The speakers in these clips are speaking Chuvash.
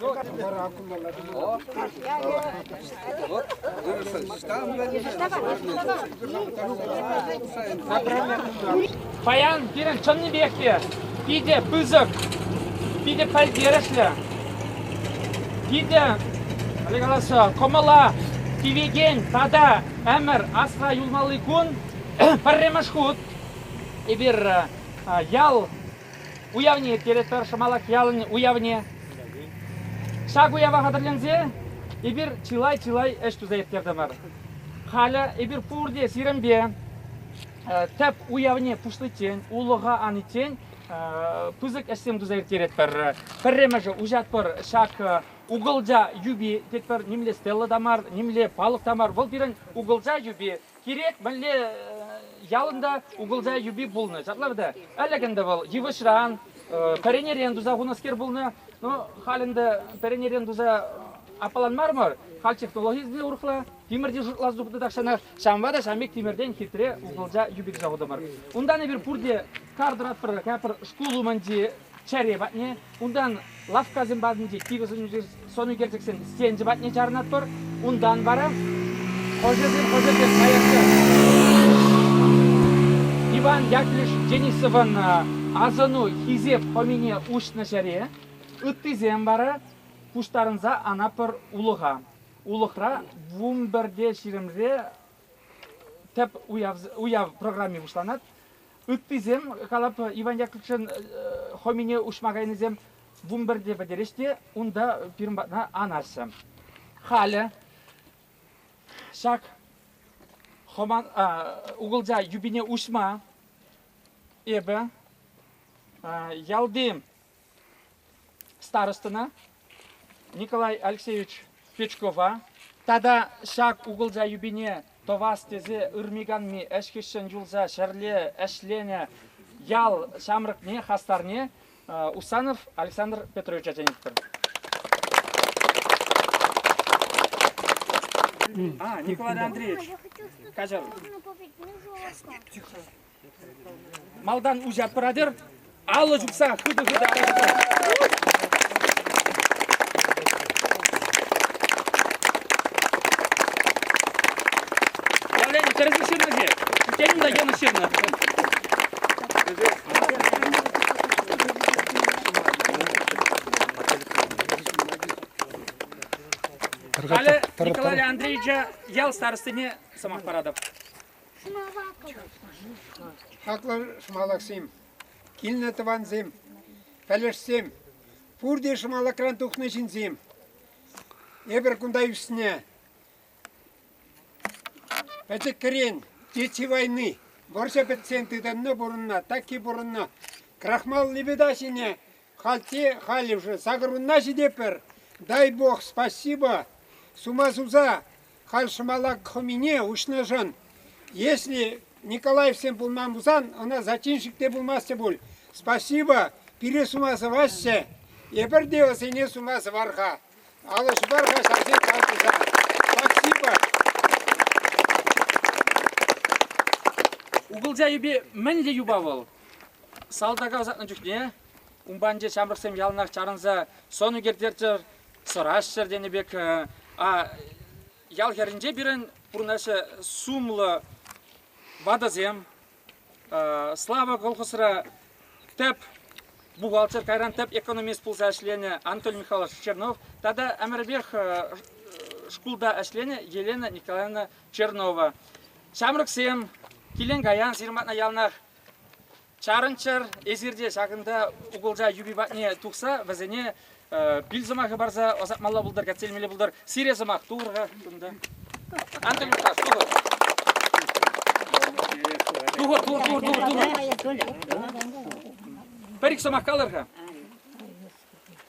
Вара кунталла Паян пирӗн чӑннипех питӗ пысӑк, питӗ пӗлтерӗшлӗ, питӗ кӑмӑла тивекен тата ӗмӗр асра юлмалли кун пӗрремӗш хут эпир ял уявне ирттеретпӗр Шӑмалак ялӗн уявне. Ҫак уява хатӗрленсе эпир чылай-чылай ӗҫ туса ирттертӗмӗр. Халӗ эпир пурте сирӗнпе тӗп уявне пуҫличчен, улӑха аниччен пысӑк ӗҫсем туса ирттеретпӗр. Пӗрремӗшӗ уҫатпӑр ҫак угӑлча юпи тетпӗр. Нимле стелла та мар, нимле палӑк та мар, вӑл пирӗн угӑлча юпи. Кирек мӗнле ялӑн та укӑлча юпи пулнӑ ҫапла вӗт. Ӗлӗк ӗнтӗ вӑл йывӑҫран, пӗренерен туса хунӑскер пулнӑ. Ну, халь ӗнтӗ пӗренерен туса аппалан мар мар. Халь технологи те урӑхла. Тимӗрти шутлас тухнӑ тахҫанах. Ҫавӑнпа та ҫамрӑк тимӗртен хитре укӑлча юпи туса хутӑмӑр. Унтан эпир пурте кар тӑратпӑр, кайпӑр шкул умӗнчи чӗре патне, унтан лавккасем патӗнчи кивӗ сӑнӳкерчӗксен стенчӗ патне чарӑнатпӑр, унтан вара хӑшӗсем хӑшӗсем каясем. Иван Яковлевич Денисовӑн асӑну хисеп хӑмине уҫнӑ ҫӗре ыттисем вара пуҫтарӑнса анатпӑр улӑха. Улӑхра вумберде ҫирӗмре тӗп уяв, уяв программи пуҫланать. Ыттисем, калап, Иван Яковлевичӑн хомине уҫма кайнисем вунпӗрте пӗтерӗҫ те унта пирӗн патна анаҫҫӗ. Халӗ ҫак хоман, угылча юпине уҫма эпӗ ялти старостӑна Николай Алексеевич Печкова тата ҫак укӑлча юпине тӑвас тесе ырми-канми ӗҫкӗҫҫӗн юлса ҫӗрле ӗҫленӗ ял ҫамрӑкне, хастарне Усанов Александр Петрович ача тенӗ А, Николай Андреевич, каҫар. Малтан уҫать пыратӑр, алӑ чупса хытӑ-хытӑ Валерий, тӗрӗс ҫырнӑ-ши? Тенӗ та йӑнӑш ҫырнӑ. Халӗ Николай Андреевича ял старостине сӑмах паратӑп. Хаклӑ шӑмалаксем, килнӗ тӑвансем, пӗлӗшсем, пурте шӑмалакран тухнӑ ҫынсем. Эпир кунта ӳснӗ пӗчӗкрен Чечи войны вӑрҫӑ пӗтсен тытӑннӑ пурӑннӑ, такки пурӑннӑ. Крахмал лебеда ҫине хальте халь уже сакӑрвунна ҫитетпӗр. Дай бог спасибо, сума суса Халь шӑмалак хӑмине уҫнӑшӑн, если Николаевсем пулман пулсан, ӑна зачинщик те пулмастӗ пуль. Спасибо, пире сума сӑваҫҫӗ. Эпир те ӑсене сума сӑвар-ха. Алӑ ҫупар-ха ҫавсен кал туса. Спасибо. Укӑлча юпи мӗнле юпа вӑл? Салтака ӑсатнӑ чухне унпанче ҫамрӑксем яланах чарӑнса сӑн ӳкерттерччӗр, сӑраҫҫӗр тенӗ пек. Ял хӗрринче пирӗн пурӑнаҫҫӗ сумлӑ ватӑсем. Слава колхозра тӗп бухгалтер, кайран тӗп экономист пулса ӗҫленӗ Анатолий Михайлович Чернов тата ӗмӗрпех шкулта ӗҫленӗ Елена Николаевна Чернова. Ҫамрӑксем килен-каян сирматна яланах Чарӑнччӑр, эсир те ҫакӑнта укӑлча юпи патне тухса вӗсене пил сӑмахӗ парса ӑсатмалла пултӑр, кӗтселмелле пултӑр. Сире сӑмах турӑр-ха кунта. Антонюшка, тухӑр. Тухӑр, тухӑр, тухӑр, тухӑр, тухӑр. Пӗр-ик сӑмах калӑр-ха.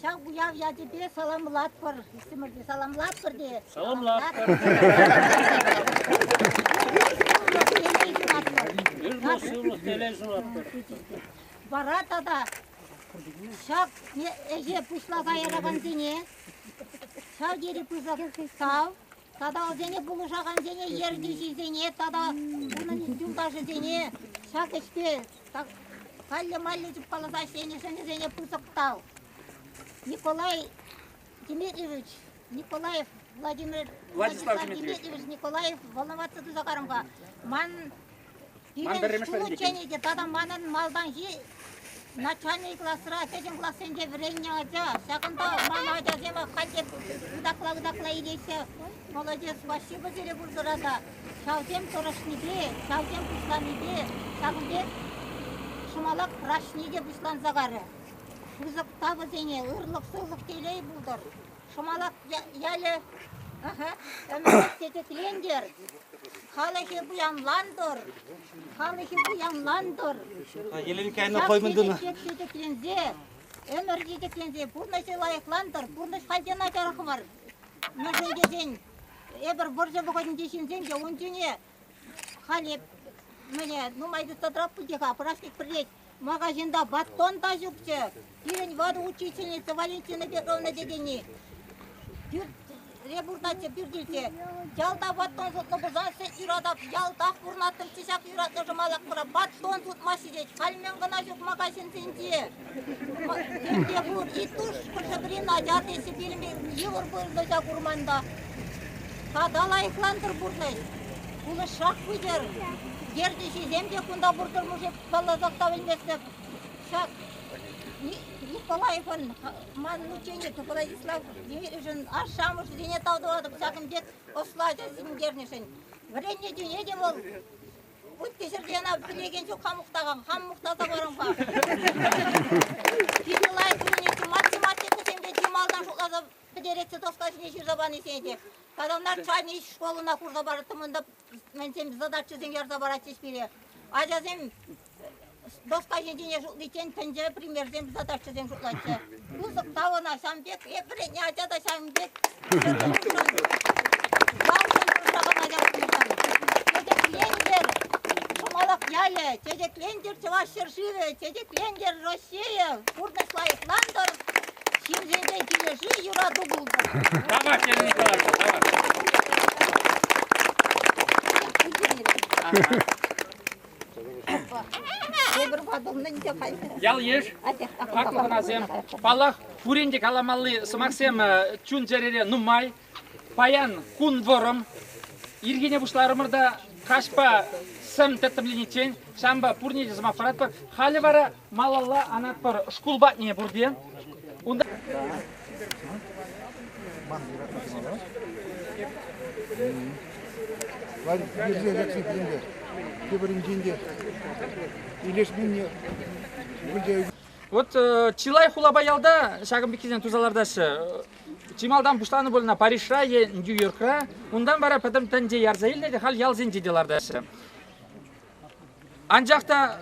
Ҫав уяв ячӗпе саламлатпӑр. Иксӗмӗр те саламлатпӑр те. Саламлатпӑр. Сывлӑх телей сунатпӑр. Вара тата ҫак ӗҫе пуҫласа яракансене ҫав тери пысӑк тав. Саталсене пулӑшакансене, ертӳҫӗсене тата унӑн юлташӗсене ҫак ӗҫпе каллӗ-маллӗ чупкаласа ӗҫленӗ ҫӗнӗсене пысӑк тав. Николай Дмитриевич Николаев Владимир Владислав Дмитриевич Николаев волноваться тӑсакарӑмпа ман Ман пӗрремӗш вӗрентекен. ученӑй те тата манӑн малтанхи начальник класра кӗҫӗн классенче вӗреннӗ ача. Ҫакӑнта ман ачасем ахальте ытакла-ытакла илеҫҫӗ. Молодец, спасибо сире пурсӑрата. Ҫавсем тӑрӑшнипе, ҫавсем пуҫланипе, ҫакӑн пек ҫӑмалак праҫник те пуҫланса карӗ. Пысӑк тапӑсене ырлӑх-сывлӑх телей пултӑр. Шӑмалак ялӗ ӗмӗрет тететлентер. Халӑхӗ пуянлантӑр. Халӑхӗ пуянлантӑр. Еленкайна коймын тунӑ. Тетекленсе, ӗмӗр тетекленсе пурнӑҫӗ лайӑхлантӑр. Пурнӑҫ халь начар хӑвар. Мӗншӗн тесен эпир вӑрҫӑ вӑхӑтӗнчи ҫынсем те ун чухне Халӗ мӗне нумай тытратпӑр пулчӗ-ха, праздник пӗрлет. Магазинта баттон та ҫукчӗ. Пирӗн ватӑ учительница Валентина Петровна тетени пӳрт ребуртаччӗ пӳртӗнче. Ялта баттон сутнӑ пулсассӑн юратап, ялтах пурӑнаттӑмччӗ ҫак юратнӑ шӑмалакпӑра. Баттон сутмаҫҫӗ тет. Халь мӗн кӑна ҫук магазинсенче. Мӗнле пурччӗ тус, пӗр-пӗрин ача тесе пилмест, йывӑр пурнӑҫа курманта. Тата лайӑхлантӑр пурнӑҫ, пулӑшсах пытӑр. Ертӳҫисем те кунта пуртӑрмӑшӗ палласах та пӗлместӗп. Ҫак Николаевӑн ман мучениче Владислав Юрьевичӑн ашшӗ-амӑшӗсене тав тӑватӑп ҫак ӗнтет ӑслӑ ача сенкернӗшӗн. Вӗреннӗ чухне те вӑл Ытти ҫӗрте ӑна пӗлекен ҫук, хам мухтакан, хам мухтаса парам-ха. Питӗ лайӑх вылянӑччӗ. Матти матти кусемпе чи малтан шутласа пӗтеретчӗ тӑхта ҫине ҫырса панисене те. Казанар чайнӑй школына хурса парӑттӑм. Унта мӗнсем задачӑсем ярса паратчӗҫ пире. Ачасем Бокса ҫитине шутличчен тӗнче премьерсем задачӑсем шутлаҫҫӗ. Пысӑк та ӑна ҫавӑн пек, эп вӗреннӗ ача та ҫавӑн пек. Ялшӑн тӑрса калаҫасшӑн. Чечеклентер Шӑмалак ялӗ, чечеклентер Чӑваш ҫӗршывӗ, чечеклентер Россия, пурнӑҫ лайӑхлантӑр, ҫынсемпе килӗшӳ, юрату пултӑр. Давай, Сергей Николаевич, давай. Ял-йыш, хаклӑ хӑнасем, паллах, пурин те каламалли сӑмахсем чун-чӗрере нумай. Паян кун вӑрӑм. Ирхине пуҫларӑмӑр та каҫпа сӗм тӗттӗмлениччен ҫавӑнпа пурне те сӑмах паратпӑр. Халӗ вара Малалла анатпӑр шкул патне пурте. Унта Варье пирӗнте. Тепӗринчен те илешменни Вот э, чылай хулапа ялта ҫакӑн пеккисен туса лартаҫҫӗ. Чи малтан пуҫланӑ пулнӑ Парижра е Нью-Йоркра, унтан вара пӗтӗм тӗнче ярса илнӗ те халь ялсенче те лартаҫҫӗ. Анчах та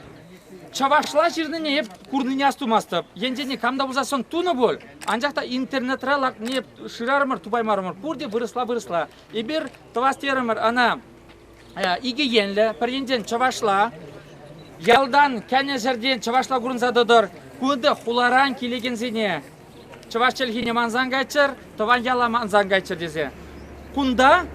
чӑвашла ҫырнине эп курнине астумастӑп. Енчен кам та пулса сон тунӑ пуль, анчах та интернетра лакни шырарӑмӑр, тупаймарӑмӑр. Пурте вырӑсла-вырӑсла. Эпир тӑвас терӗмӗр ӑна икӗ енлӗ. Пӗр енчен чӑвашла, ялтан кӗнӗ ҫӗртен чӑвашла курӑнса тӑтӑр. Кунти хуларан килекенсене чӑваш чӗлхине мансан кайччӑр, тӑван яла мансан кайччӑр тесе. Кунта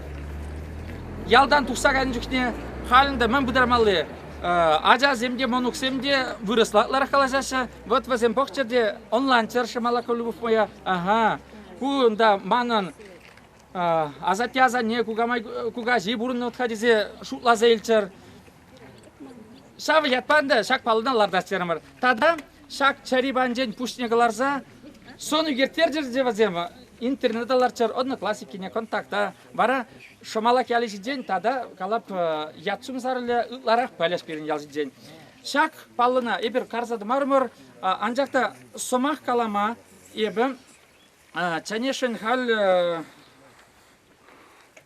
ялтан тухса кайнӑ чухне халӗн те мӗн пытармалли, ачасем те, мӑнуксем те вырӑслатларах калаҫаҫҫӗ. Вот вӗсем пӑхчӑр те ӑнланччӑр Шамалаков Любовь моя. Ага, кунта манӑн асатте-асанне, кукамай, кукаҫи пурӑннӑ-ха тесе шутласа илччӗр. Ҫав ятпа ӗнтӗ ҫак паллӑна лартас терӗмӗр. Тата ҫак чӗри панчен пуҫне кӑларса сӑн ӳкерттерчӗр те вӗсем. Интернета лартчӑр, Одноклассникене контакта. Вара Шӑмалак ялӗ ҫинчен тата калап ят-сум сарӑлӗ ытларах пӗлӗш пирӗн ял ҫинчен. Ҫак паллӑна эпир карса тӑмарӑмӑр, анчах та сӑмах калама эпӗ Ченешин халь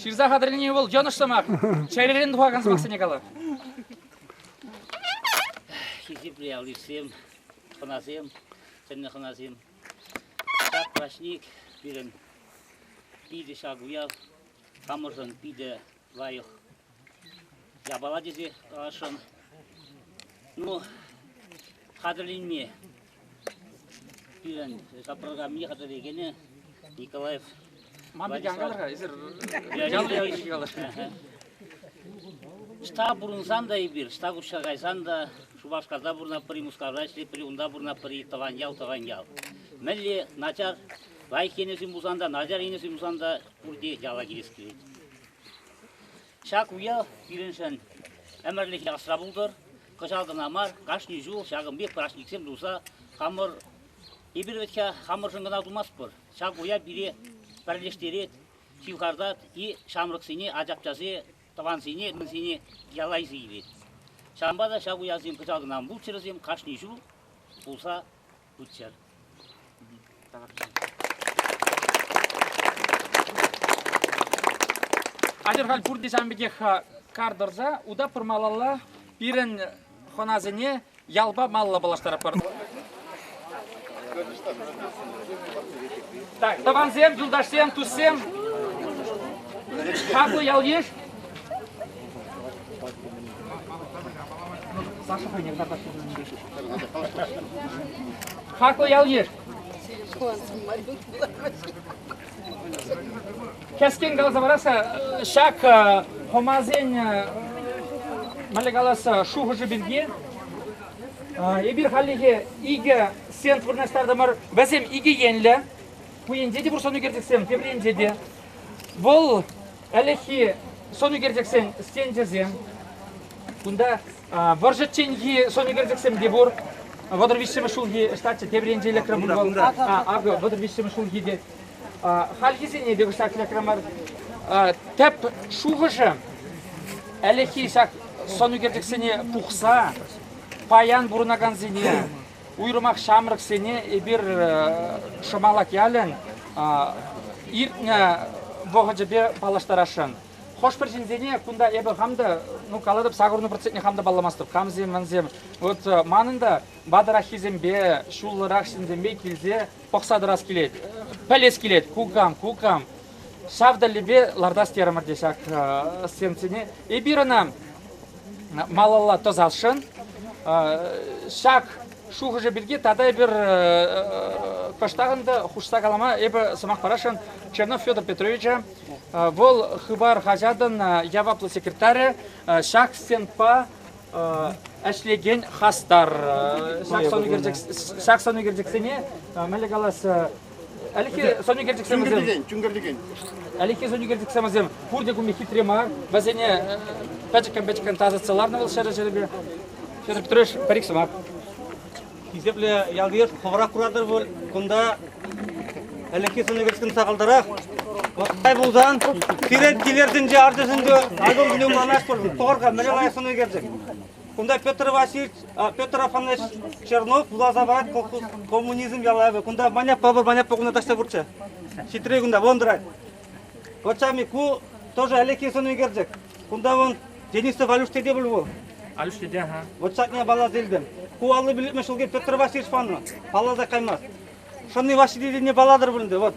Ҫырса хатӗрленӗ вӑл йӑнӑш сӑмах. Чӗререн тухакан сӑмахсене кала. Хисеплӗ аллисем, хӑнасем, тӗнлӗ хӑнасем. Ҫак праҫник пирӗн питӗ ҫак уяв хамӑршӑн питӗ лайӑх япала тесе каласшӑн. Ну, хатӗрленме пирӗн капрограммине хатӗрлекенӗ Николаев Манты калар-ха, эсир жаллӑ ячӗ калар. Ӑста пурӑнсан та эпир, ӑста куҫса кайсан та, Шупашкарта пурӑнатпӑр-и, Мускавра ӗҫлетпӗр-и, унта пурӑнатпӑр-и, тӑван ял, тӑван ял. Мӗнле начар, лайӑх енӗсем пулсан та, начар енӗсем пулсан та пурте яла килес килет. Ҫак уяв пирӗншӗн ӗмӗрлӗхе асра пултӑр. Кӑҫал кӑна мар, кашни ҫул ҫакӑн пек праҫниксем туса хамӑр эпир вӗт-ха хамӑршӑн кӑна тумастпӑр. Ҫак уяв пире пӗрлештерет, ҫывхартать и ҫамрӑксене, ачапчасе, тӑвансене, мӗнсене ялайса илет. Ҫавӑнпа та ҫак уявсем кӑҫал кӑна мулччӑрӗсем кашни ҫул пулса Тутчер. Хатӗр халь пурте ҫавӑн пекех кар тӑрса утаппӑр малалла пирӗн хӑнасене ялпа малла паллаштаратпӑр. Тӑвансем, юлташсем, туссем, хаклӑ ял-йыш. Саша хӑйне карташ Хаклӑ ял-йыш! Кӗскен каласа парасса, ҫак хӑмасен мӗнле каласса шухӑшӗ пирки эпир хальлӗхе икӗ сеанс вырнаҫтартӑмӑр. Вӗсем икӗ енлӗ. Ку енче те пур сӑнӳкерчӗксем, тепринче те. Вӑл ӗлӗкхи сӑнӳкерчӗксен стенчӗсем. Кунта Вӑрҫӑчченхи сӑнӳкерчӗксем те пур. Вӑтӑр виҫҫӗмӗш ҫулхи ӗҫлетчӗ тепӗр енче электрон пулмалла. Акӑ вӑтӑр виҫҫӗмӗш ҫулхи те. Хальхисене те кӑштах электрон мар. Тӗп шухӑшӗ ӗлӗкхи ҫак сӑнӳкерчӗксене пухса паян пурӑнакансене, уйрӑмах ҫамрӑксене эпир Шӑмалак ялӗн иртнӗ вӑхӑчӗпе паллаштарасшӑн. хӑш-пӗр ҫынсене кунта эпӗ хам та, ну калатӑп, сакӑрӑн процентне хам та палламастӑп. Камсем, мансем. Вот э, манӑн та ватӑраххисемпе, ҫуллӑрах ҫынсемпе килсе пӑхса тӑрас килет, пӗлес килет, кукам, кукам. Ҫав тӗллевпе лартас терӗмӗр те ҫак э, стенцине. Эпир ӑна малалла тӑсасшӑн. Ҫак шухӑшӗ пирки тата эпир кӑштах ӗнтӗ хушса калама эпӗ сӑмах парасшӑн Чернов Федор Петровича Вӑл Хыпар хаҫатӑн яваплӑ секретарӗ ҫак стендпа ӗҫлекен хастар. Ҫак сӑнӳкерчӗксене мӗнле калас Ӗлӗкхи сӑнӳкерчӗксем вӗсем Ӗлӗкхи сӑнӳкерчӗксем вӗсем пурте кумми хитре мар. Вӗсене пӗчӗккӗн-пӗчӗккӗн тасатса ларнӑ вӑл ҫӗрӗ-ҫӗрӗпе. Ҫӗрӗ пӗтреш пӗр-ик сӑмах. хисеплӗ ял-йыш хӑвӑрах куратӑр пуль кунта ӗлӗкхи сӑнӗкӗшкӗн сахалтарах. Вӑхтай пулсан сире килертинче артисенче альбом кӳнӗ манатпӑр тӑхӑрка мӗне кая сӑнӗкерчӗк. Кунта Петр Васильевич, Петр Афанасьевич Чернов вуласа парать колхоз коммунизм ялавӗ. Кунта маняпа пыр маняпа кунта таҫта пурччӗ. Ҫитрӗ кунта, вон тӑрать. Пӑрчами ку тоже ӗлӗкхи сӑн ӳкерчӗк. Кунта вон Денисов Алюш тете пуль вӑл. Алюш тете, ха. Вот ҫакне балас илтӗм. Ку аллӑ билетме ҫулки Петр Васильевич панӑ. Палласа каймасть. Шӑнни Ваҫи тетене палатӑр пулӗнде. Вот.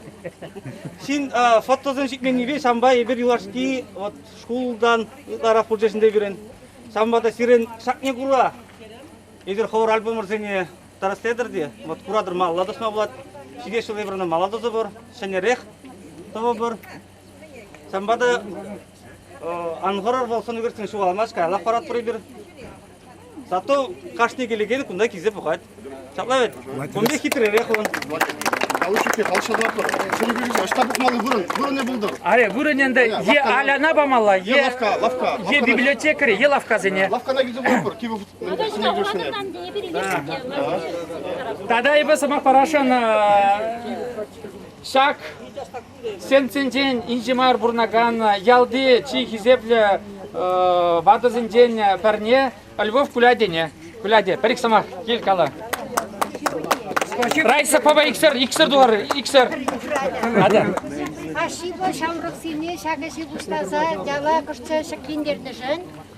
Ҫын а, фотосем ҫитменнипе ҫампа эпир юлашки вот шкултан ытларах пулчӗ ҫӗнте пирӗн. Ҫампа та сирӗн ҫакне кура эсир хор альбомӑрсене тӑрӑстетӗр те вот куратӑр малалла тӑсма пулать ҫитес ҫулри вырӑна мала тӑсӑ пур ҫӗнӗрех тӑвӑ пур ҫавӑнпа та ан хӑрӑр вӑл сӑнӳкерсен ҫухалмасть каялла паратпӑр эпир зато кашни килекен кунта килсе пӑхать ҫапла вӗт кунти хитререх он Налушикте хавшататпӑр. Сӑнӳкерсен ӑҫта пухмалли вырӑн, вырӑнӗ пултӑр. Аре вырӑнӗнде е алана памалла, е лавкка, лавкка. Е библиотекари, е лавккасене. Лавккана килсе пӑхӑпӑр. Кивӗ Тата эпӗ сӑмах парасшӑн ҫак стендсенчен инҫе мар пурӑнакан ялти чи хисеплӗ ватӑсенчен пӗрне Львов Кулядене. Куляде, пӗр ик сӑмах, кил кала. Райса папа иксӗр, иксӗр тулар, иксӗр. Ада. Ашшӗпе ҫамрӑксене ҫак ӗҫе пуҫласа яла кӑшта ҫӗклентертӗшӗн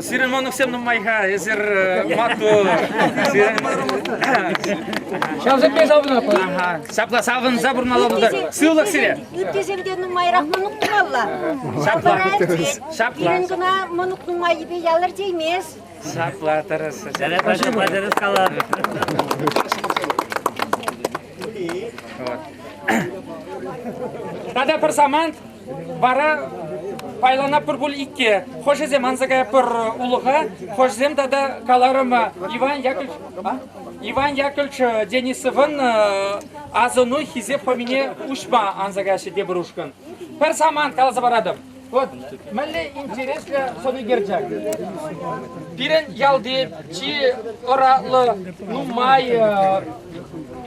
Сирмоновсем нумай-ха, эсир маттур. Ҫавсемпе савӑнатпӑр. Ҫапла савӑнса пурӑналла пултар. Сывлӑх сире. Иппесем те нумайрах мӑнук тумалла. Ҫапла ӗлккен. Пирӗн кӑна мӑнук нумаййипе ялӑр теймест. Ҫапла тӑрӑсӑр. Жарят пача пачарас калатӑп. Тата пӗр самант Вара пайлана пӗр пуль икке. Хӑшӗсем анса каятпӑр улӑха, хӑшӗсем тата каларӑм Иван Яковлевич, Иван Яковлевич Денисовӑн асӑну хисеп хӑмине уҫма анса каҫҫӗ тепӗр ушкӑн. Пӗр самант каласа паратӑп. Вот мӗнле интереслӗ сӑнӳкерчӗк. Пирӗн ялти чи ӑратлӑ, нумай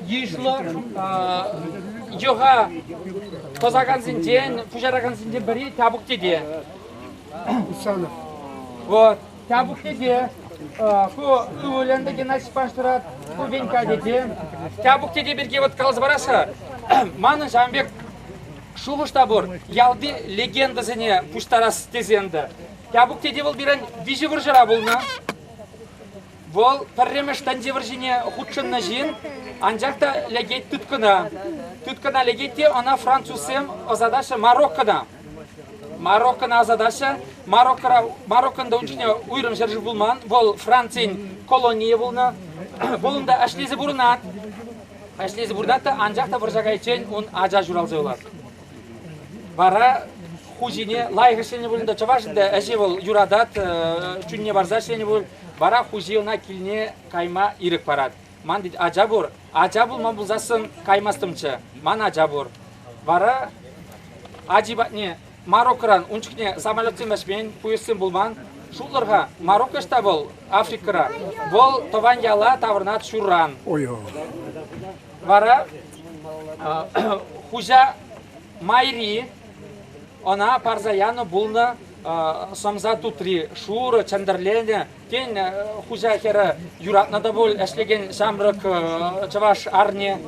йышлӑ йӑха тӑсакансенчен, пуҫаракансенчен пӗри Тяпук тете. Усанов. Вот, Тяпук тете. Ку ывӑлӗн Геннадий Паштырат, ку Венька тете. Тяпук тете пирки вот каласа парасса, манӑн ҫавӑн пек шухӑш та пур, ялти легендӑсене пуҫтарас тесен те. Тяпук тете вӑл пирӗн виҫӗ вӑрҫӑра пулнӑ. Вӑл пӗрремӗш тӗнче вӑрҫине хутшӑннӑ ҫын, анчах та лекет тыткӑна. Тыткӑна лекет те ӑна французсем ӑсатаҫҫӗ Мароккона. Мароккона ӑсатаҫҫӗ. Мароккора, Мароккон та ун чухне уйрӑм ҫӗршыв пулман. Вӑл Францин колонийӗ пулнӑ. Вӑл унта ӗҫлесе пурӑнать. Ӗҫлесе пурӑнать та, анчах та вӑрҫа кайиччен ун ача ҫуралса юлать. Вара хуҫине лайӑх ӗҫленӗ пулин те, чӑваш ӗҫе вӑл юратать, чунне парса ӗҫленӗ пулин вара хуҫи ӑна килне кайма ирӗк парать. Ман тет, ача пур, ача пулма пулсассӑн каймастӑмччӗ, ман ача пур. Вара ачи патне Мароккӑран ун чухне самолетсем ӗҫмен, пуйӑссем пулман. Шутлӑр-ха, Марокко ӑҫта вӑл? Африкӑра. Вӑл тӑван яла таврӑнать ҫурран. Вара хуҫа майри ӑна парса янӑ пулнӑ сӑмса тутри шурӑ чӗнтӗрленӗ. Тен, хуҫа хӗрӗ юратнӑ та пуль ӗҫлекен ҫамрӑк чӑваш арне.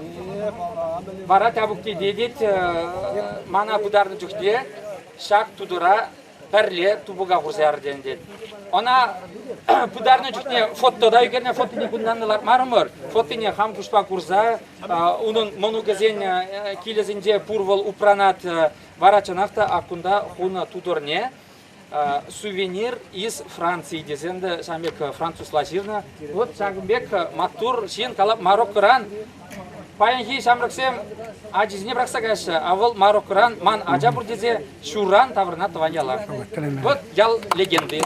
Вара Тявуккине тет мана пытарнӑ чухне ҫак тутӑра пӗрле тупӑка хурса яртен тет. Ӑна пытарнӑ чухне фото та ӳкернӗ, фотине кунтан лартмарӑмӑр. Фотине хам куҫпа курса унӑн мӑнукӗсен килӗсенче пур вӑл упранат Вара чӑнах та аккунта хунӑ тутӑрне сувенир из Франции тесен те ҫавӑн пек французла ҫырнӑ. Вот ҫакӑн пек маттур ҫын калап Мароккӑран паянхи ҫамрӑксем ачисене пӑрахса каҫҫӗ, а вӑл Мароккӑран ман ача пур тесе ҫуран таврӑнать тӑван яла. Вот ял легенды.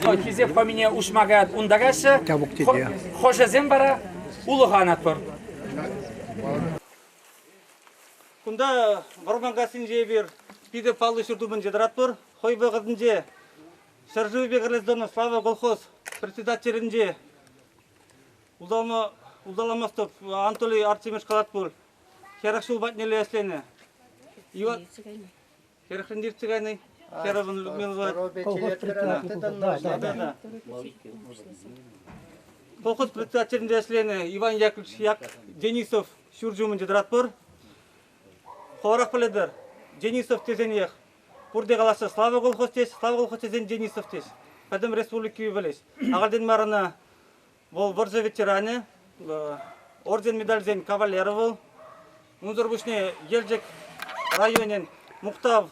Вот хисеп фамилине уҫма каять унта каҫҫӗ. Хӑшӗсем вара улӑха анатпӑр. Кунта Вӑрманкассинче эпир питӗ паллӑ ҫуртупӑнче тӑратпӑр. Хӑй вӑхӑтӗнче ҫӗршывӗпе гражданла слава колхоз председателӗнче улталма, улталамастӑп Анатолий Артемьевич калать пуль, хӗрӗх ҫул патнелле ӗҫленӗ. Иван, Хӗрӗхрен иртсе кайнӑ. Хӗрӗвӗн Людмила Владимировна. Колхоз председателӗнде ӗҫленӗ Иван Яковлевич Як Денисов ҫурчӗ умӗнче тӑратпӑр. Хӑварах пӗлетӗр, Денисов тесенех пурте калаҫҫӗ, Слава колхоз тес, Слава колхоз тесен Денисов тес. Пӗтӗм республика пӗлет. Ахальтен мар ӑна Вӑл вӑрҫӑ ветеранӗ, орден медальсен кавалерӗ вӑл. Унсӑр пуҫне Елчӗк районӗн мухтав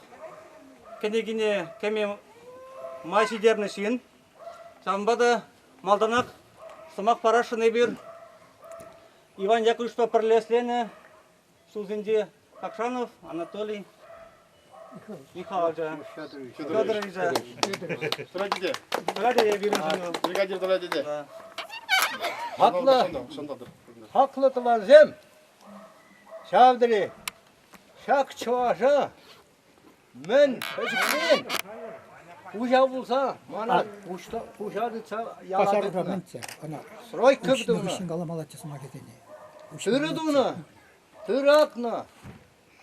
кӗнекине кӗме май ҫитернӗ ҫын. Ҫавӑнпа та малтанах сӑмах парасшӑн эпир Иван Яковлевичпа пӗрле ӗҫленӗ ҫулсенче Кокшанов Анатолий Михаил ача Федоровича тӑрать те тӑрать те вирусену бригадир тӑрать те хаклӑ хаклӑ тӑвансем ҫав тери ҫак чӑваша Мӗн, пӗчӗкрен хуҫа пулса мана хуҫа тытса яла Пасарта мӗнччӗ ӑна? Стройка тунӑ. каламаллаччӗ сӑмахӗсене. Тырӑ тунӑ. Тыратнӑ.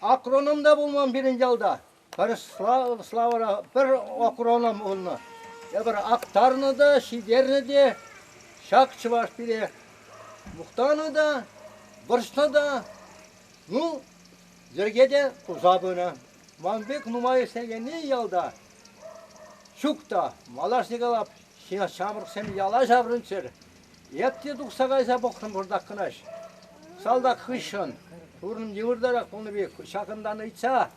Акроном та пулман пирӗн ялта. Пӗр Славӑра пӗр акроном пулнӑ. Эпир актарнӑ та, ҫитернӗ те, ҫак чӑваш пире мухтанӑ та, вӑрҫнӑ та. Ну, йӗрке те туса пынӑ. Ман пек нумай ӗҫлекенни ялта ҫук та. Малашне калап, ҫамрӑксем яла ҫаврӑнччӑр. Эп те тухса кайса пӑхрӑм пӑртак кӑнаҫ. Салтак хыҫҫӑн пурӑн йывӑртарах пулнӑ пек ҫакӑнтан ыйтса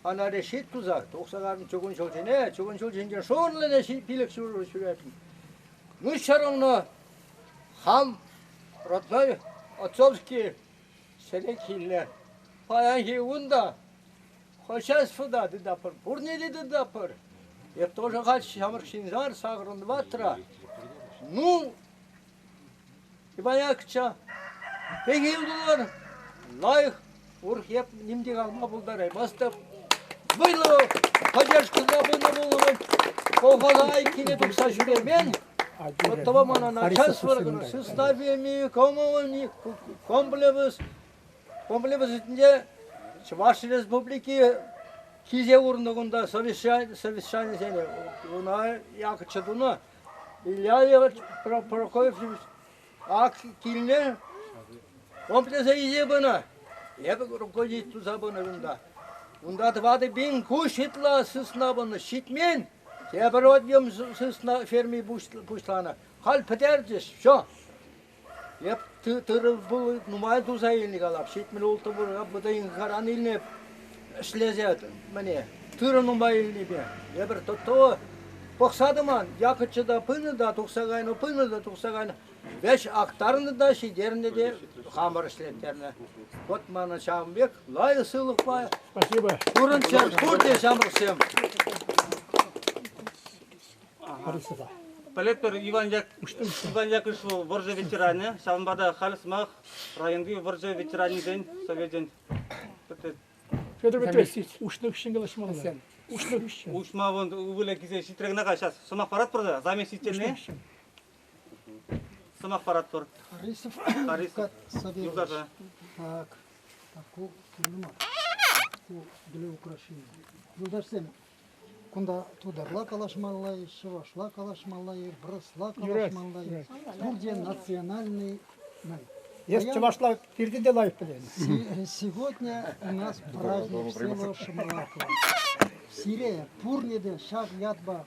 ӑна решит тусах тухса картӑн чугун ҫул ҫине. Чугун ҫул ҫинчен шурлӑ та пилӗк ҫурӑ ҫӳретӗн. Ну, ҫӗр улнӑ хам родной отцовский Ҫӗлӗкиллӗ. Паянхи кун та хозяйствӑта тытатпӑр, пурнене тытатпӑр. Эп тоже хать ҫамрӑк ҫынсар, сакӑрӑн ваттра. Ну, Иванякча, пек ютӑлар, лайӑх урӑх эп ним те калма пултараймастӑп. Вӑйлӑ поддержкӑна пынӑ пулӑмӑн колхоза айккине тухса ҫӳремен, Оттого на начальство составами комплекс комплексӗсенче Чӑваш Республики киле урнӑкунта совещанисене уна якӑтчӗ тунӑ. Ильяев Прокофьевич ак килне комплекса илсе пынӑ. Эпӗ руководитель туса пынӑ унта. Унта тӑватӑ пин куҫ ытла сысна пынӑ. Ҫитмен. Тепӗр одьем сысна ферми пуҫланӑ. Халь пӗтерчӗҫ, все. Эп тырӑ-пул нумай туса илнӗ калап. Ҫитмӗл ултӑ пурка пӑтӑйӑнкаран илнӗ ӗҫлесе мӗне. Тырӑ нумай илнипе. Эпир то пӑхса тӑман. Якӑччӑ та пынӑ та, тухса кайнӑ, пынӑ та, тухса кайнӑ. Вӗҫ актарнӑ та ҫитернӗ те хамӑр ӗҫлеттернӗ. Вот мана ҫавӑн пек лайӑх сывлӑхпа Спасибо. пурӑнччӑр пурте ҫамрӑксем. Харисада. Пӗлетпӗр Иван Як Иван Яковлевич вӑл вӑрҫӑ ветеранӗ. Ҫавӑнпа та халь сӑмах районти вӑрҫӑ ветеранӗсен совечӗн Федор Петрович, уҫнӑ хыҫҫӑн калаҫмалла. Уҫнӑ хыҫҫӑн. уҫма вон ывӑлӗ килсе ҫитрӗ кӑна-ха. Сейчас сӑмах паратпӑр та заместительне. Сӑмах паратпӑр. Харисов, Харисов юсаса. Так, так ку кирлӗ мар. Ку для украшения. Юлташсем, кунта тутарла калаҫмалла-и, чӑвашла калаҫмалла-и, вырӑсла калаҫмалла-и, пурте национальный май. Если чувашла пирки делай, блин. Сегодня у нас праздник всего Шамалакова. Сире пурне те ҫак ятпа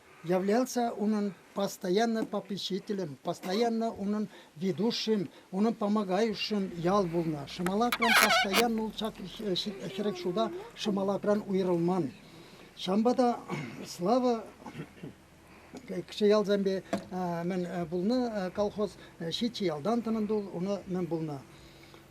Являлся унӑн постоянно попечителӗн, постоянно унӑн ведущим, унӑн помогающим ял пулнӑ. Шӑмалакран постоянно улшак хӗрӗк шута Шӑмалакран уйрӑлман. Ҫавӑнпа та Слава киче ялсемпе мӗн пулнӑ колхоз ҫиччӗ ялтан тӑнӑ тул уна мӗн пулнӑ.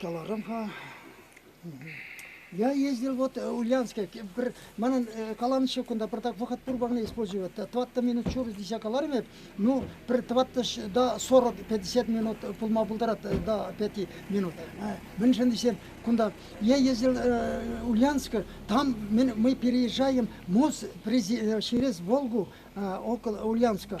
каларӑм-ха. Я ездил вот э, в Ульяновске. Манӑн э, каланӑччӗ кунта пӗртак вӑхӑт пур парне использовать. Тӑваттӑ минут чур тесе калармӗп, ну пӗр тӑваттӑш да сорок пятьдесят минут пулма пултарать да пяти минут. Мӗншӗн тесен кунта я ездил э, Ульяновска, там мы переезжаем МОЗ через Волгу около Ульянска.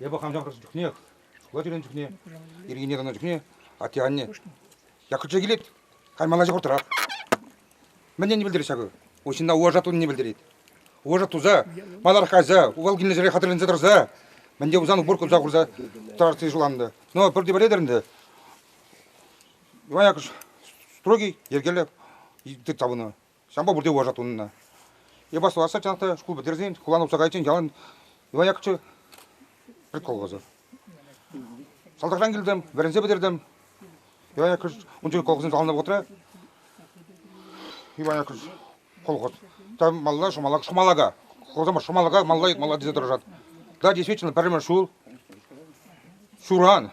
Эпӗ хам ҫамрӑк чухнех, шкула ҫӳренӗ чухне, ирхине каннӑ чухне атте-анне Яккӑрча килет, халь ман ача хуртӑрах. Мӗнне пӗлтерет ҫакӑ? Уҫҫынна уважа тунине пӗлтерет. Уважа туса, маларах кайса, Укал килнӗ ҫӗре хатӗрленсе тӑрса, мӗнте пулсан упор купса хурса тӑрасси шуланнӑ. Но пӗрте пӗлетӗр ӗнтӗ, Иван Якуш строгий, йӗркеллӗ тыт тапӑнӑ. Ҫампа пурте вӑрҫа тунӑ. Эпа сӑвасса чӑнах та шкул пӗтерсен хулан утса кайиччен ялан Иван Яковлевич прикол каласа. Салтакран килтӗм, вӗренсе пӗтертӗм. Иван Яковлевич ун чухне колхозӑн саланнӑ вӑхӑтра Иван Яковлевич колхоз. Там малла шумалак, шумалака. Колхозма шумалака, малла, малла тесе тӑрӑшат. Да, действительно, пӗрремӗш ҫул Шуран,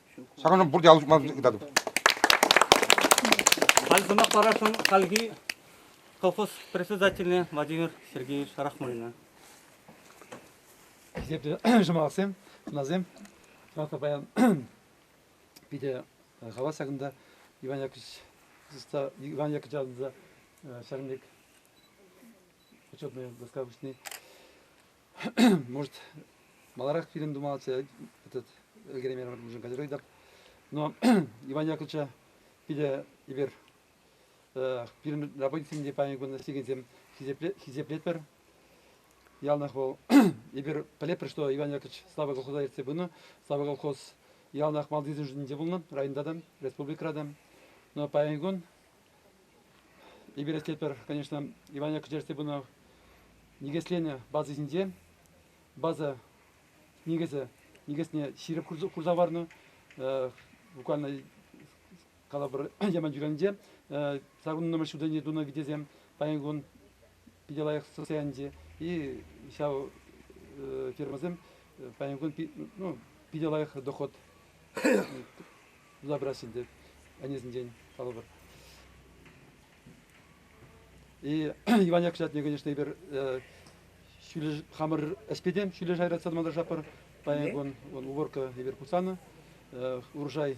Ҫакӑн ҫум пурте алӑ ҫупма ыйтатӑп. Халь сӑмах парасшӑн хальхи колхоз председательне Владимир Сергеевич Рахманина. Хисеплӗ шӑмалаксем, хӑнасем, сӑмахпа паян питӗ хавас ҫакӑнта Иван Яковлевич Иван Яковлевич ҫакӑн пек учетная доска вышни Может, маларах фильм тума этот ӗлкӗреймен пулсан категорийӗ но Иван Яковлевича питӗ эпир пирӗн работниксем те паян кун студентсем хисеплетпӗр. Яланах вӑл эпир пӗлетпӗр, что Иван Яковлевич слава колхоза ертсе пынӑ. Слава колхоз яланах малтисен шутӗнче пулнӑ, районта та, республикӑра та. Но паян кун Эпир ӗҫлетпӗр, конечно, Иванова кӗҫӗрхи пынӑ никӗсленӗ база ҫинче. База никӗсӗ никӗсне ҫирӗп хурса хӑварнӑ. Буквально калӑпӑр Яман Юранӗнче сакӑрӑн нумай ҫулсенче тунӑ витесем. Паян кун питӗ лайӑх состояние и ҫав фирмӑсем паян кун питӗ лайӑх доход туса пырасчӗ ӗнтӗ ӗнесенчен калӑпӑр. И Иван Яков ятне, конечно, эпир хамӑр ӗҫпе те ҫӳле шайра тытса тӑма тӑрӑшатпӑр. Паян кун уборка эпир пусанӑ. урожай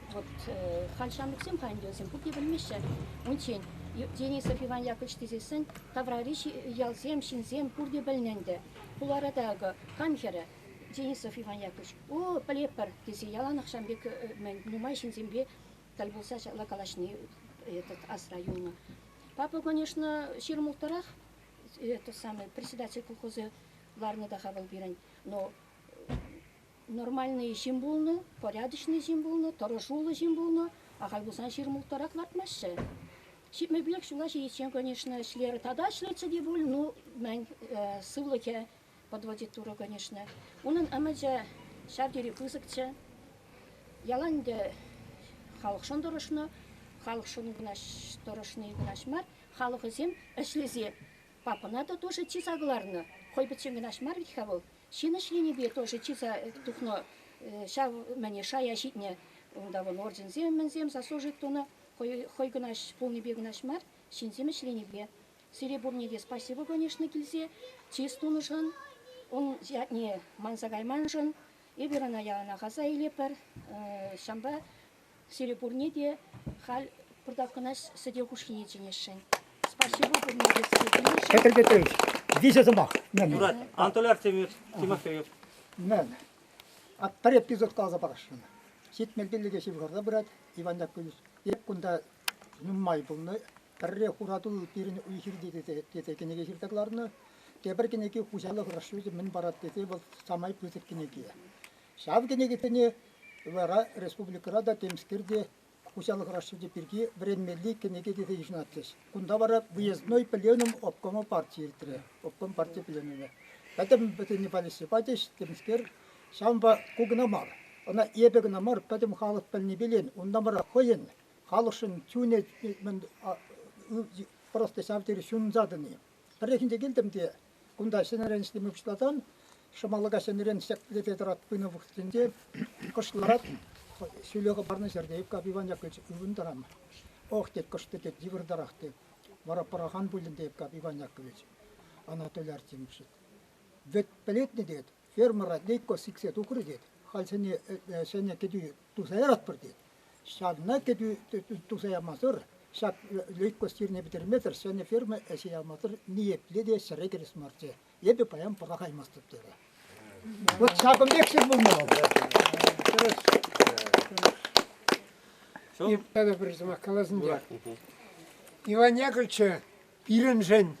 Вот халь ҫамрӑксем хайӗн ялсем пурте пӗлмеҫҫӗ. Унччен Денисов Иван Яковлевич тесессӗн таврари ялсем, ҫынсем пурте пӗлнӗ ӗнтӗ. Хулара та акӑ кам хӗрӗ Денисов Иван Яковлевич, о, пӗлетпӗр, тесе яланах ҫам пек мӗн нумай ҫынсемпе тӗл пулса ҫапла калаҫни этот асра юлнӑ. Папа, конечно, ҫирӗм улттӑрах, этот самый председатель колхозӗ ларнӑ та-ха вӑл пирӗн, но нормальный ҫын пулнӑ, порядочный ҫын пулнӑ, тӑрӑшуллӑ ҫын пулнӑ, ахаль пулсан ҫырмулттарах лартмаҫҫӗ. Ҫитмӗлпех ҫула ҫитиччен, конечно, ӗҫлер тата ӗҫлетчӗ те пуль, ну, мӗн сывлӑхӗ подводит Турӑ, конечно. Унӑн ӗмӗчӗ ҫав тери пысӑкчӗ. Ялан ӗнтӗ халӑхшӑн тӑрӑшнӑ, халӑхшӑн кунаҫ тӑрӑшни кунаҫ мар, халӑхӗсем ӗҫлесе папӑна та тоже чыса кӑларнӑ. Хӑй пӗччен кӑнаҫ мар вӗт-ха вӑл, Ҫын ӗҫленипе тоже чыса тухнӑ ҫав мӗне шая ҫитнӗ. Унта вӑл орденсем-мӗнсем, заслужить тунӑ, хӑй кӑнаҫ пулнипе кӑнаҫ мар, ҫынсем ӗҫленипе. Сире пурне те спасибо, конечно, килсе чыс тунӑшӑн, ун ятне манса кайманшӑн. Эпир ӑна яланах аса илетпӗр. Ҫавӑнпа Сире пурне те халь пӑртаккӑна сӗтел хушшине чӗнесшӗн. Спасибо пурне те сире пӗлесшӗн. Кӗтӗр-кӗтӗр. Виҫӗ сӑмах. Мен. Юрать, Анатолий Артемьевич, Тимофеев. Мен. А пӗр эпизод каласа парасшӑн. Ҫитмӗлпелӗке ҫывхарса пырать Иван Яковлевич. Эп кунта нумай пулнӑ. Пӗрре Хуратул пирӗн уй-хирте тесе, тесе кӗнеке ҫырса кӑларнӑ. Тепӗр кӗнеке хуҫалӑх расчечӗ мӗн парать тесе вӑл самай пысӑк кӗнеке. Ҫав кӗнекесене вара республикӑра та, темскер те, хуҫалӑх расчечӗ пирки вӗренмелли кӗнеке тесе йышӑнатчӗҫ. Кунта вара Выездной пленум обкома парти иртрӗ, обком парти пленумӗ. Пӗтӗм вӗсене палеҫсе пачӗҫ, темскер. Ҫавӑнпа ку кӑна мар, ӑна эпӗ кӑна мар, пӗтӗм халӑх пӗлни пилен, унта мара хӑйӗн халӑхшӑн чунӗ, просто ҫав тери ҫунса тӑни. Пӗррехинче килтӗм те кунта ҫӗнӗрен ӗҫлеме пуҫласан Шӑмалака ҫӗнӗрен ҫӗклете тӑрать пынӑ вӑхӑтӗнче кӑш ларать ҫӳле хӑпарнӑ ҫӗрте Ивкап Иваняк ывӑнтӑрам. Ох, тет кӑшты тет йывӑртарах тет. Вара пӑрахан пулин те Ивкап Иванякович Анатолий Артемьевич. Вӗт пӗлетне тет, фермера Лейко сиксе тухрӗ тет, халь ҫӗнӗ, ҫӗнӗ кӗтӳ туса яратпӑр тет. Ҫавна кӗтӳ туса ямасӑр, ҫак лейкость ирне пӗтермесӗр ҫӗнӗ ферма ӗҫе ямасӑр ниепле те ҫӗре кӗрес марччӗ. Эпӗ паян пӑрахаймастӑп терӗ. Вот ҫакӑн пек сир пулнӑ вӑл. Тӑрӑш. Тӑрӑш. И, тата пӗр сӑмах каласın те. Иван Яковлевича Пирӗншӗн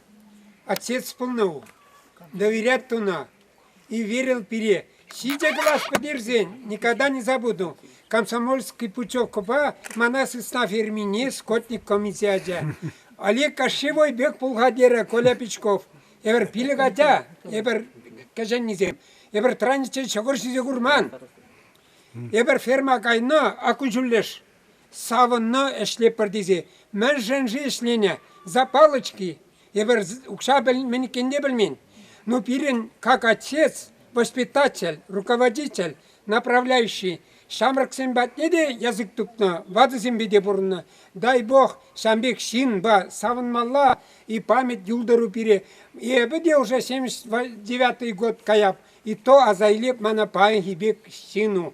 отец пулнӑ ку. Доверять тунӑ. И верил пире. Ҫичӗ класс пӗтерсен никогда не забуду. Комсомольский путевкӑпа мана состав эрмине скотник комиссия ача. Олег Кощевой пек пулха терӗ Коля Пичков. Эпир пилӗк ача, эпир кӗҫӗннисем. Эпир траниччен ҫӑкӑр ҫисе курман. Эпир ферма кайнӑ, акку ҫуллеш. Савӑннӑ ӗҫлепӗр тесе мӗншӗн-ши ӗҫленӗ Запалочки? Эпир укҫа мӗн иккенне те пӗлмен. Но пирӗн как отец, воспитатель, руководитель, направляющий ҫамрӑксем патне те язык тупнӑ, ватӑсемпе те пурӑннӑ. Дай Бог ҫан пек ҫынпа савӑнмалла и память юлтӑру пире. Эпӗ те уже 79 год каяп, и то аса илеп мана паянхи пек ҫыну.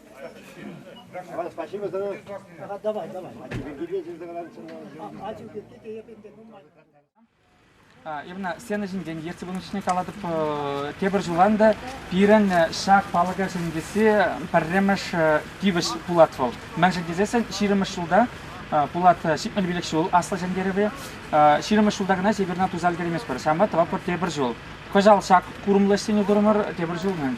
А, спасибо за... Ага, давай, давай. А тебе где здесь А, а тебе где именно сцена ҫинчен ертсе пынӑ чухне калатӑп тепӗр ҫулан та пирӗн ҫак палӑка ҫӗнетсе пӗрремӗш тивӗҫ пулать вӑл. Мӗншӗн тесессӗн ҫирӗммӗш ҫулта пулат ҫитмӗл пилӗк ҫул аслӑ ҫӗнтерӗве. Ҫирӗммӗш ҫулта кӑна Северна туса ӗлкӗрейместпӗр. Ҫамрӑк тӑватпӑр тепӗр ҫул. Кӑҫал ҫак курӑмлӑ ӗҫсене турӑмӑр тепӗр ҫул мӗн.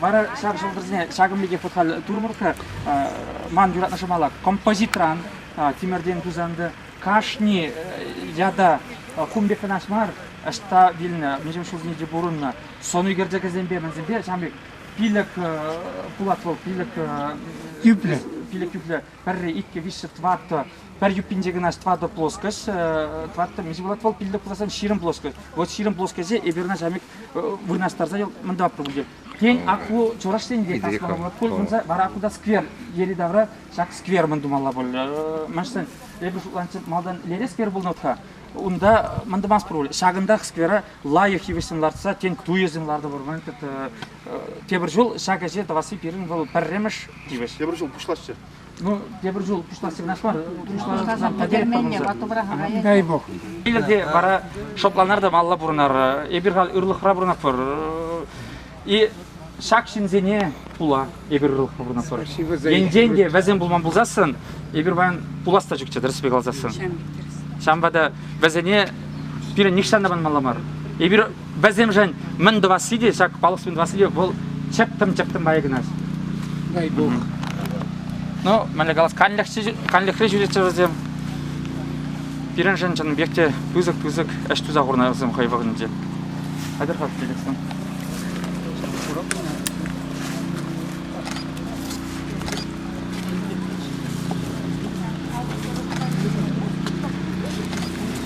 Вара ҫак ҫӑлтӑрсене ҫакӑн пекех вот халь турмӑркка ман юратнӑ шӑмала композитран тимӗртен тусанды кашни ята кум пек кӑнаш мар ӑҫта вилнӗ мӗншӗн ҫулсене те пурӑннӑ сӑну ӳкерчӗкӗсемпе мӗнсемпе ҫавӑн пек пилӗк пулат вӑл пилӗк тӳплӗ пилӗк тӳплӗ пӗрре, иккӗ, виҫҫӗ, тӑваттӑ, пӗр юппинче кӑна тӑватӑ плоскость, тӑваттӑ мӗн пулать вӑл пиллӗк пулсан ҫирӗм плоскость. Вот ҫирӗм плоскосье эперна ҫамик вырнаҫтарса мында пулчӗ. Тен, аку чӑваш енте ташлама пулать пуль, кунса вара акуда сквер йӗри-тавра ҫак сквер мӗн тумалла пуль. Мӗншӗн эпӗ шутланчӗ малтан лере сквер пулнӑ-ха, унта мӑн тӑмас пуль. Ҫакӑнтах сквера лайӑх йывӑҫсем лартса, тен, туйӑсем лартӑпӑр, Тепӗр ҫул ҫак ӗҫе тӑвасси пирӗн вӑл пӗрремӗш тивӗҫ. Тепӗр ҫул пуҫласчӗ. Ну, тепӗр ҫул пуҫласси кӑнаш мар. Пуҫласан пӗтеретпӗр Дай бог. Килӗр те вара шӑпланар та малла пурӑнар. Эпир халь ырлӑхра пурӑнатпӑр. И ҫак ҫынсене пула эпир ырлӑхра пурӑнатпӑр. Енчен те вӗсем пулман пулсассӑн, эпир паян пулас та чукчӗ, тӗрӗспе каласассӑн. Ҫавӑнпа та вӗсене пирӗн нихҫан та манмалла мар. Эпир Вӗсемшӗн мӗн тӑвасси те, ҫак палӑксем тӑвасси те вӑл чӗптӗм-чӗптӗм майӗ кӑна. Дай бог. Ну, мӗнле калас, канлӗхре ҫӳретчӗ вӗсем. Пирӗншӗн чӑннипех те пысӑк-пысӑк ӗҫ туса хурнӑ вӗсем хӑй вӑхӑтӗнче. Хатӗр-ха, килесем.